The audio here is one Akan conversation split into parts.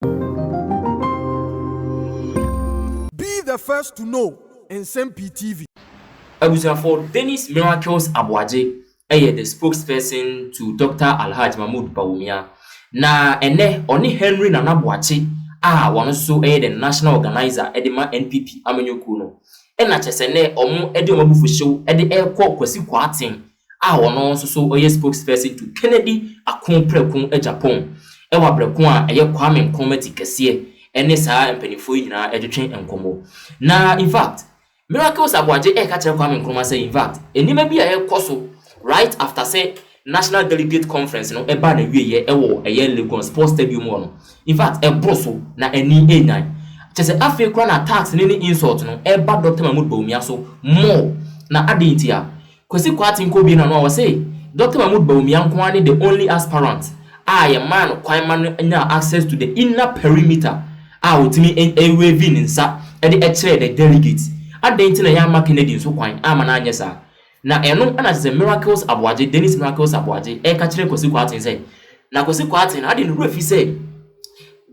Be the first to know Nsɛm Pii TV. Abusuafoɔ, Dennis Miracles Aboagye yɛ the spokesperson to Doctor Alhaj Mahmood Bawumia, na ɛnnɛ ɔne Henry Nana Boakye a ɔno nso yɛ the National Organiser de ma NPP amanyɔkuo no, na kyerɛ sɛ nnɛ wɔde wɔn abufuhyew de rekɔ Kwasi Kwarteng a ɔno nso so ɔyɛ spokesperson to Kennedy Ako Prɛko agya Pong wɔ abrɛ ko a ɛyɛ Kwame Nkrumah ti kɛseɛ ɛne saa mpaninfoɔ yi nyinaa ɛtwetwe nkɔmɔ na infact Miracles Aboagye ɛɛka kyerɛ Kwame Nkrumah sɛ infact nneɛma bi a ɛɛkɔ so right after sɛ National Delegate Conference no ɛbaa n'awieɛ ɛwɔ ɛyɛ Legon Sports Stadium hɔ no infact ɛboro so na ani ɛɛnyan kyerɛ sɛ afei koraa na attacks no ne insult no ɛɛba Doctor Mahmood Bawumia so more na adɛn nti a Kwasi Kwarteng kɔbue n'ano a ɔse Doctor Mahmood Bawumia nko ara ne the only aspirant a yɛmaa no kwan ma no nyaa access to the inner perimeter a ɔtumi wavee ne nsa de kyerɛɛ the delegates. Adɛn nti na yɛamma Kennedy nso kwan amma no anyɛ saa? Na ɛno na kyerɛ sɛ Miracles Aboagye, Dennis Miracles Aboagye, reka kyerɛ Kwasi Kwarteng sɛ, na Kwasi Kwarteng no ade ne werɛ fi sɛ,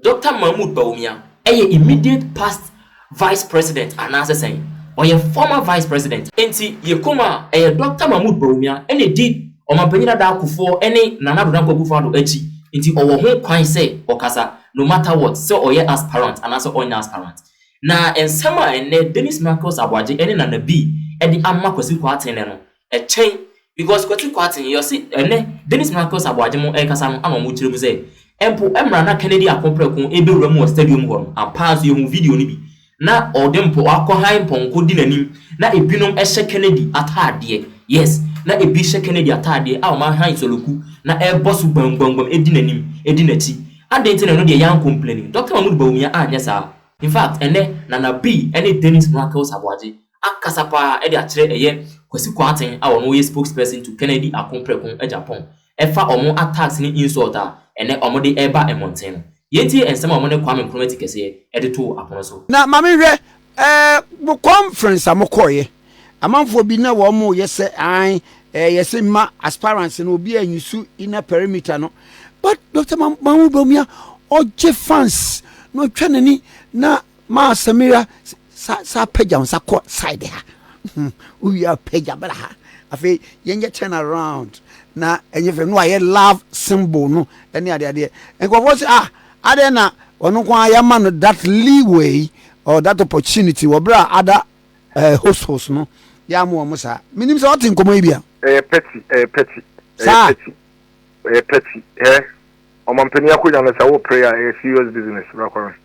Doctor Mahmoud Bawumia yɛ immediate past Vice President anaasɛ sɛn? Ɔyɛ former Vice President. Enti yɛ komm a, ɛyɛ Doctor Mahmoud Bawumia na edi Ɔmanpanyin Addo Akuffo ne Nana Addo Dankwa Akufo-Addo akyi nti ɔwɔ ho kwan sɛ ɔkasa no matter what sɛ ɔyɛ aspirant anaasɛ ɔnyɛ aspirant. Na nsɛm a ɛnnɛ Dennis Michaels Aboagye ne Nana Bii de ama Kwasi Kwarteng no, Ɛkyɛn because Kwati Kwarteng yɛ ɔse ɛnɛ Dennis Michaels Aboagye mo ɛrekasa no ana ɔmo kyerɛ mu sɛ mpo ɛmra na Kennedy ako prɛko ɛbɛwura mu wɔ stadium hɔ no ampaa nso yɛhuu video no bi na ɔde mpo wakɔ hann pɔnkɔ di n'anim na ɛbinom ɛhyɛ Kennedy ataadeɛ yes na ɛbi hyɛ Kennedy ataadeɛ a ɔmo ahann soloku na ɛrebɔ so gbamgbamgbam ɛdi n'anim ɛdi n'akyi adɛn nti na ɛno deɛ yɛn ankompleni Doctor Mahmood Bawumia anyɛ saa. Infact ɛnɛ Nana Bee ɛne Dennis Michaels Aboagye ankasa paa de akyerɛ ɛyɛ Kwasi Kwarteng a ɔno yɛ spokesperson to Kennedy Ako Preko Agyapong ɛfa wɔn attacks ne insult a ɛnɛ wɔn de ɛreba mmɔnten no. Yɛntie nsɛm a wɔn ne Kwame Nkrumah ti kɛseɛ ɛde too apono so. Na ma me nhwɛ eh mo conference a mo kɔɔyɛ amanfoɔ bi na wɔn mo yɛ sɛ ae eh yɛ se mma aspirants no obi a nyusu inner perimeter no but Doctor Mahmoud Bawumia ɔgye fans na ɔtwa n'ani na Ma Samira sa sa apagya wo nsa kɔ side ha. Wowie a pagya bra ha. Afei yɛnyɛ turn around na ɛnyɛ fɛ no ayɛ love symbol no ɛne adeɛ adeɛ. Nkurɔfoɔ sɛ ah adɛn na ɔno nko ara yɛama no that leeway or that opportunity wɔ berɛ a ada eh, host host no yɛamo wɔn saa. Menim sɛ ɔte nkɔmmɔ yi bi a. Ɛyɛ pɛti, ɛyɛ pɛti, ɛyɛ pɛti, ɛyɛ pɛti. Ɛ ɔmampanin akonnwa no sɛ wo pray a ɛyɛ serious business bra kɔ no.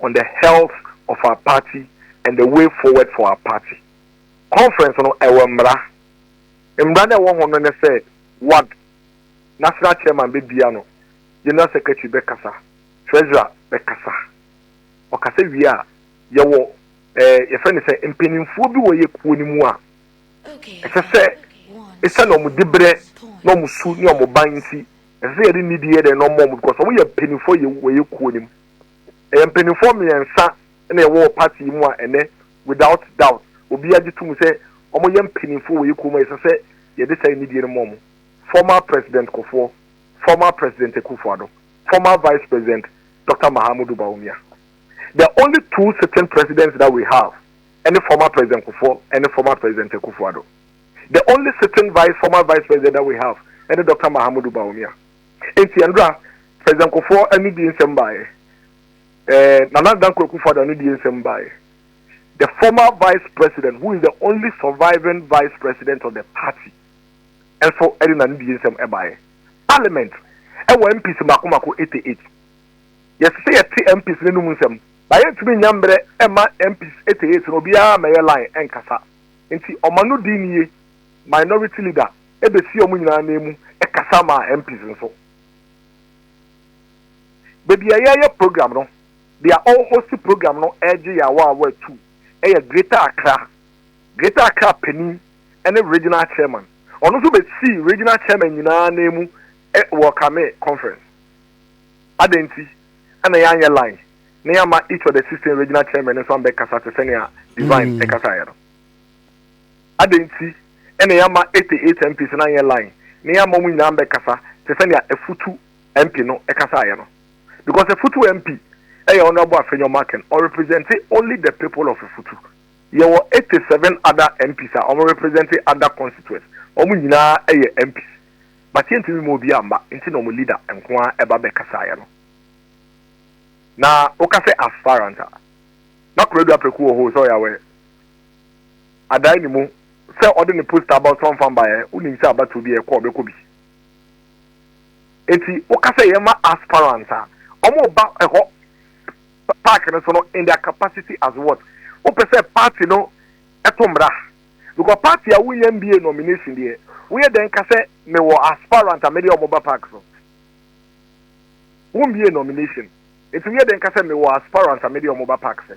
on the health of our party and the way forward for our party conference no ɛwɔ mmara mmara no ɛwɔ ho no ne sɛ ward national chairman bɛbia no general secretary bɛkasa treasurer bɛkasa ɔkasa wie a yɛwɔ ɛɛ yɛfrɛ ne sɛ mpanimfoɔ bi wɔ yɛ kuo no mu a ɛsɛ sɛ ɛsiane wɔn dibrɛ na wɔn su ne wɔn ban nti ɛsɛ sɛ yɛde nidi yɛ dɛn na wɔn wɔn because wɔn yɛ mpanimfoɔ yɛ wɔ yɛ kuo no mu. Ɛyɛ mpaninfoɔ mmiɛnsa na yɛwɔ wɔ party yi mu a ɛnɛ without doubt obiara gye tom sɛ wɔn yɛ mpaninfoɔ wɔ yɛ kurom a ɛsɛ sɛ yɛde saa anidie no ma wɔn, former President Kofoɔ, former President Akuffo Addo, former Vice President Doctor Mahamudu Bawumia. The only two sitting Presidents that we have ɛne former President Kofoɔ ɛne former President Akuffo Addo. The only sitting vice former Vice President that we have ɛne Doctor Mahamudu Bawumia. Enti ɛno da President Kufuor anidie nsɛm baeɛ. Eh, Nana Dankwa Akufo-Addo anidie nsɛm baeɛ. The former Vice President who is the only surviving Vice President of the party nso de n'anidie nsɛm baeɛ. Parliament wɔ MPs mmaako mmaako 88. Yɛsɛ sɛ yɛte MPs no anom nsɛm. Na yɛntumi nnya mmerɛ mma MPs 88 no obiara mmɛyɛ line nkasa. Enti ɔma no di nie, Minority Leader. bɛfii wɔn nyinaa nan mu kasa maa MPs nso. Baabi a yɛreyɛ program no, deɛ ɔrehosti program no regye yɛn awaawa atuu, ɛyɛ Greater Accra, Greater Accra panin ne Regional Chairman. Ɔno nso bɛsii Regional Chairman nyinaa nan mu wɔ Kame Conference. Adɛn nti na yɛanyɛ line na yɛama each of the sixteen Regional Chairman nso ambɛkasa te sɛnea Divine kasaeɛ no? Adɛn nti na yɛamma Ete Ate MP sɛ no anyɛ line na yɛamma wɔn nyinaa ammɛkasa te sɛ nea Afutu MP no kasaeɛ no? Because Afutu MP yɛ Honourable Afenyo Markin, ɔrepresente only the people of Afutu. Yɛwɔ Ete seven other MPs a wɔrepresente other constituents, wɔn nyinaa yɛ MPs but yɛntumi mma obiara mma nti na wɔn leader nko ara ba bɛkasaeɛ no. Na woka sɛ aspirant a, na Kwadu Apreku wɔ hɔ o, sɛ ɔyɛ aware. adan ne mu sɛ ɔde ne poster aba ɔsoro mfa mbaeɛ wonim sɛ abatoɔ bi a ɛkɔ ɔbɛkɔ bi eti woka sɛ yɛma aspirants a ɔmo ba ɛhɔ park no so no in their capacity as what wopɛ sɛ party no ɛto mmra because party a wonya mbie nomination deɛ woyɛ dɛn ka sɛ mewɔ aspirant a mede ɔmo ba park so wombie nomination eti woyɛ dɛn ka sɛ mewɔ aspirant a mede ɔmo ba park sɛ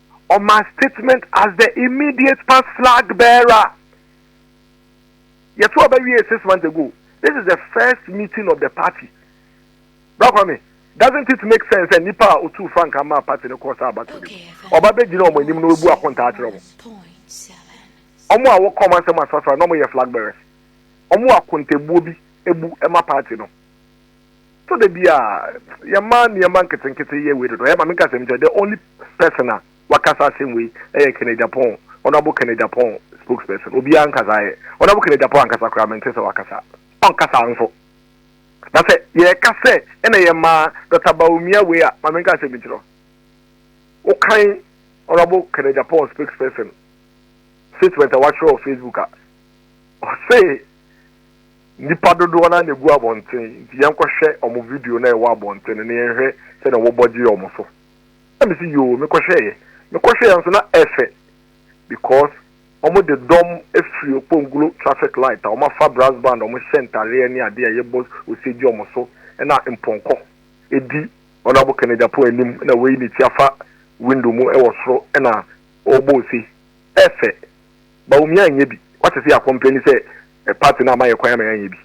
ɔmaa statement as the immediate past flag bearer. Yɛto aba wie six months ago. This is the first meeting of the party. Bra Kwame, doesn't it make sense sɛ nipa a otu frankaa maa party no kɔɔ saa abato no mu? Ɔba bɛgyina wɔn anim na obu akontaa akyerɛ wɔn. Wɔn a wɔka wɔn asɛm asrasra na wɔyɛ flag bearers. Wɔn wɔ akontabuo bi bu ma party no. So da bi a yɛma nneɛma nketenkete yɛ wei dodo? Ɛma me nkasɛm kyɛ, the only person a waka saa asɛm wei yɛ Kenneth Agyapong, Honourable Kenneth Agyapong spokesperson. Obiara nka saa yɛ. Honourable Kenneth Agyapong ankasa koraa mente sɛ waka saa. Ɔnka saa nso. Na sɛ yɛka sɛ ɛna yɛma Dr. Bawumia wei a, ma me nka asɛm nkyerɛ wokan Honourable Kenneth Agyapong spokesperson statement a wakyerɛ wɔ Facebook a ɔse Nnipa dodoɔ no ara na ɛgu abɔnten nti yɛnkɔhwɛ wɔn video no a ɛwɔ abɔnten no na yɛnhwɛ sɛdeɛ wɔbɔ gye wɔn so. Na mese yoo, mekɔhwɛeɛ. Mekɔhwɛeɛ nso na ɛfɛ because wɔde dɔm firi Okpongulo traffic light a wɔafa brass band a wɔhyɛ ntareɛ ne adeɛ a yɛbɔ ose gye wɔn so na mpɔnkɔ di Honourable Kennedy Apo anim na wayi ne ti afa window mu wɔ soro na ɔrebɔ ose. Ɛfɛ. Bawumia nyɛ bi. Wate sɛ yɛakɔmpleni sɛ Party no amma yɛn kwan amma yɛanyɛ bi.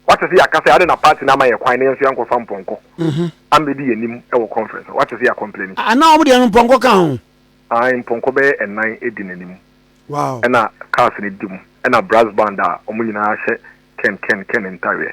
Wate se yɛaka sɛ ade na party no amma yɛn kwan na yɛn nso yɛankɔfa mpɔnkɔ ammɛdi yɛn anim wɔ conference no. Wate se yɛakɔmplɛni. A na wɔn deɛ no mpɔnkɔ ka ho. Ae, mpɔnkɔ bɛyɛ nnan di n'anim. Wow. Ɛna cars no di mu. Ɛna brass band a wɔn nyinaa hyɛ Ken Ken Ken ntareɛ.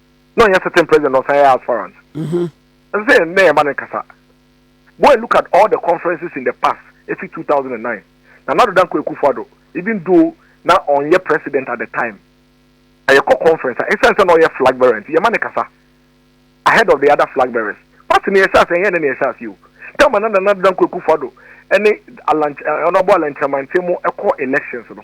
na ɔnyɛ certain president ɔsan yɛ aspirant mm-hmm. ɛsɛ sɛ yɛn yɛn ba ne kasa go and look at all the conferences in the past efi 2009 na nado danko ekufo ado even though na ɔnyɛ president at the time ɛyɛ kɔ conference a ɛsan sɛ na ɔyɛ flag bearer nti yɛn ma ne kasa ahead of the other flag bearers pati ne yɛ hyɛ ase ɛyɛ ne ne yɛ hyɛ ase o tɛm na nado danko ekufo ado ɛne alankyɛ ɔnabɔ alankyɛmantɛ mu ɛkɔ elections no.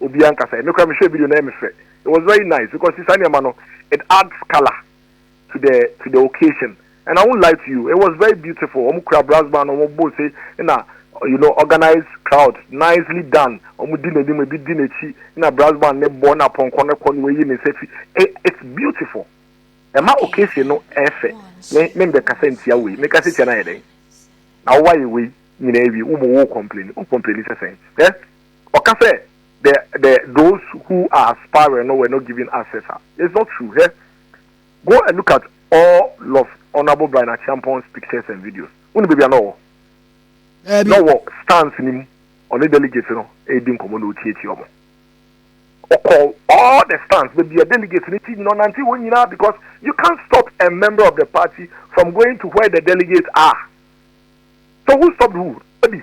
Obi ankasa. Me koraa me hwɛɛ video no ɛyɛ me fɛ. It was very nice because see saa nneɛma no it adds colour to the to the occasion and I won't lie to you it was very beautiful. Wɔn kura brass band wɔn bɔ ose na you know organized crowd nicely done. Wɔn di n'anim ebi di n'akyi na brass band ne bɔ na pɔnkɔ no kɔ na wɔyi ne nsa fi. It's beautiful. Ɛma occasion no ɛyɛ fɛ. Me me mbɛ kasa ntia wei me kasa tia na ayɛ dɛn na wɔayɛ wei nyinaa wie wo mo wo complain wo complain sɛ sɛn. Eh? Ɔka sɛ the the those who are aspiring no were not given access a, it's not true hɛ. Go and look at all of Honourable Brian Acheampong's pictures and videos. Wone baabi a na ɔwɔ? Daabi. Na ɔwɔ stands no mu, ɔne delegates no ɛredi nkɔmmɔ na ɔtiatia ɔmo. Ɔkɔ all the stands, baabi a delegates no ti nyina ɔnante hɔ nyinaa because you can't stop a member of the party from going to where the delegates are. So who stopped who? Abi.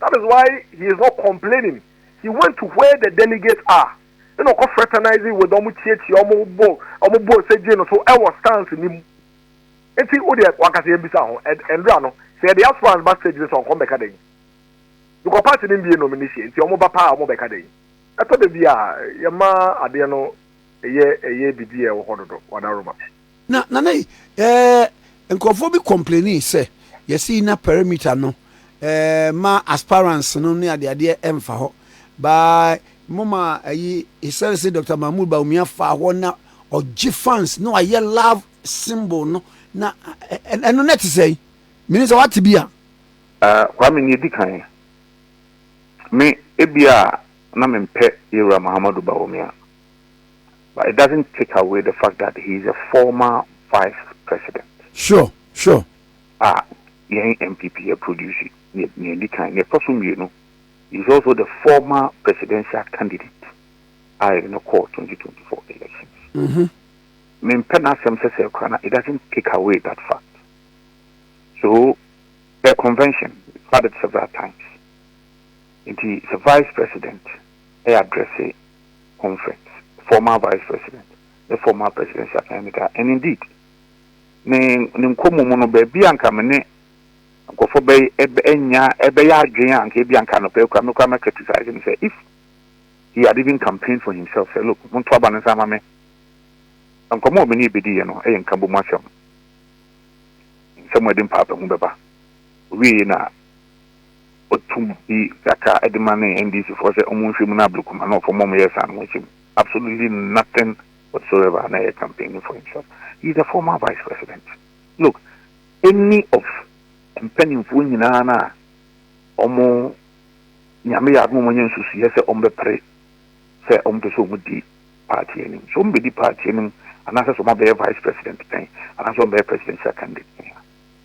That is why he is not complaining, he went to where the delegates are ɛna ɔkɔ fraternizing with ɔmo kyiakyia ɔmo bɔ ɔmo bɔ sɛ gye no so ɛwɔ stance ne mu. Nti wo deɛ wanka sɛ yɛmbisa ho ɛndra no sɛ yɛde aspirants ba stage no sɛ ɔnkɔ mbɛka dɛn? Because party no mbie nomination nti ɔmo ba paa ɔmo bɛka dɛn? Ɛtɔ da bi a yɛma adeɛ no ɛyɛ ɛyɛ bibi a ɛwɔ hɔ dodo, Wadaroma. Na nana yi ɛɛ nkurɔfoɔ bi kɔmpleni sɛ yɛsi na pɛrɛmita no ɛɛ ma asparans no ne adeadeɛ ɛnfa hɔ by mo ma ɛyi esɛre se Doctor Mahmood Bawumia fa hɔ na ɔgye fans na wayɛ love symbol no na ɛno na ɛte sɛn mini sɛ wate bi a. Eh, Kwame nea edi kan, me ebia na mempɛ Yewura Mahamadu Bawumia. but it doesn't take away the fact that he is a former vice president. Sure, sure. A yɛn NPP yɛ produce nea nea edi kan, nea ɛtɔ so mmienu, he is also the former presidential candidate a yɛde no kɔɔ 2024 elections. Mm-hmm. Mempɛ n'asɛm sɛ sɛ kora na it doesn't take away that fact. So the convention had it several times. Nti sɛ vice president readdresse conference, former Vice President ne former Presidential candidate a and indeed ne ne nkɔmmɔ mu no baabi a nka me ne nkurɔfoɔ bɛ ɛbɛ ɛnya ɛbɛyɛ adwene a nka ebi a nka anɔpɛ kura me kura mɛ criticize ne sɛ if he had even campaigned for himself sɛ look monto aba no nsa ama me nkɔmmɔ a me ne ebedi yɛ no ɛyɛ nka bɔ mu asɛm nsɛm a ɛde mpaapahu bɛba owie na Wɔto bi kakra de ma ne NDC foɔ sɛ ɔmo nhwɛ mu na abre kuma na ɔfam ma ɔmo yɛ saa no wɔn nhyɛ mu absolutely nothing whatsoever na ɛyɛ campaigning for himself he is a former vice president look any of mpaninfoɔ nyinaa no a ɔmo Nyame yɛ adom ɔmo anya nsusuiɛ sɛ ɔmo bɛpre sɛ ɔmo pɛ sɛ ɔmo di party anim sɛ ɔmo bɛdi party anim anaasɛ sɛ ɔmo abɛyɛ vice president pɛn anaasɛ ɔmo bɛyɛ presidential candidate pɛn a.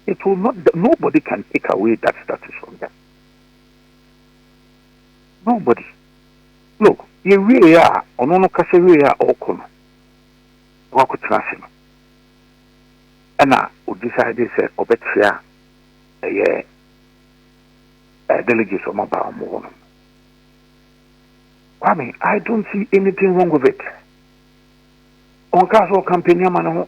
It will not die, nobody can take away that status from them, nobody. Look, yɛwieɛ a, ɔno no kasa wieɛ a ɔrekɔ no, na wakɔtena ase no, ɛna o decide sɛ ɔbɛkyea ɛyɛ delegates ɔma baa ɔmo hɔ no. Kwame, I don't see anything wrong with it. Ɔnkaa sɛ ɔkampani ama ne ho.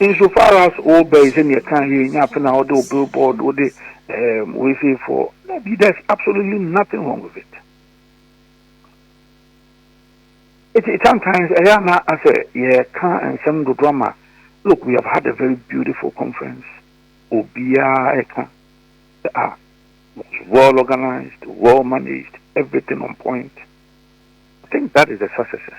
Insofar as wo ba yi sɛnea ɛka yɛ nya afe na wode wo billboard wode um, wei sei for na bi there's absolutely nothing wrong with it it sometimes ɛyɛ ana asɛ yɛka nsɛm dodo ama look we have had a very beautiful conference obiara ɛka ah was well organized well managed everything on point I think that is the successes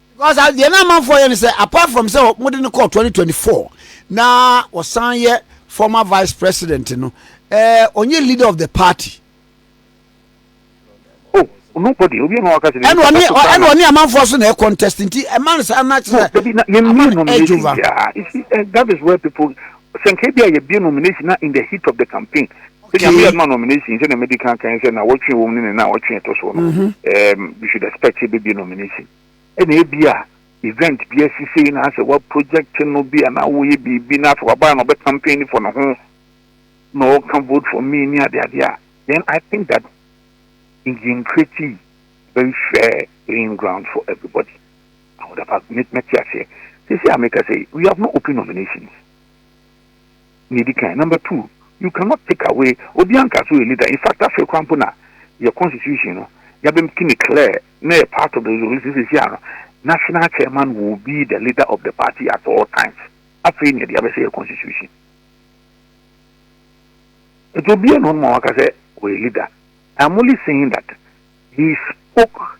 Because deɛ na amanfoɔ yɛ no sɛ apart from sɛ wɔde no kɔɔ 2024 na wɔsan yɛ former vice president no ɛɛ ɔnyɛ leader of the party. Oh, nobody obi ɛna waka sɛ ɛna ɔne ɛna ɔne amanfoɔ so na ɛ contest nti ɛma no saa na kyerɛ amanfoɔ ɛdwova. That is where people sɛ nka ebi a yɛbie nomination na in the heat of the campaign sɛ nyame yɛ adoma nomination sɛ na medi kan kan sɛ na wɔtwe wɔm ne ne na wɔtwe ɛtɔ soɔ no mhm. you should expect sɛ bɛbie nomination ɛna ebi a event bi asi sei na asɛ wa project no bi a na woyɛ biribi na afei wabaa na ɔbɛ campaign for no ho na ɔka vote for me ne ade ade a then i think that in the creative very fair playing ground for everybody Ahoda pa, me mɛte aseɛ. Seesei a meka sɛ we have not opened nominations nea ɛdi kan. Number two, you cannot take away obiara nka sɛ ɔyɛ leader. In fact afei koraa mpo na yɛ constitution no yɛabɛmki no clear na ɛyɛ part of the resolution seesei a no national chairman will be the leader of the party at all times. Afei na yɛde abɛhyɛ yɛ constitution. Nti obiara na ɔno ma waka sɛ ɔyɛ leader. I'm only saying that he spoke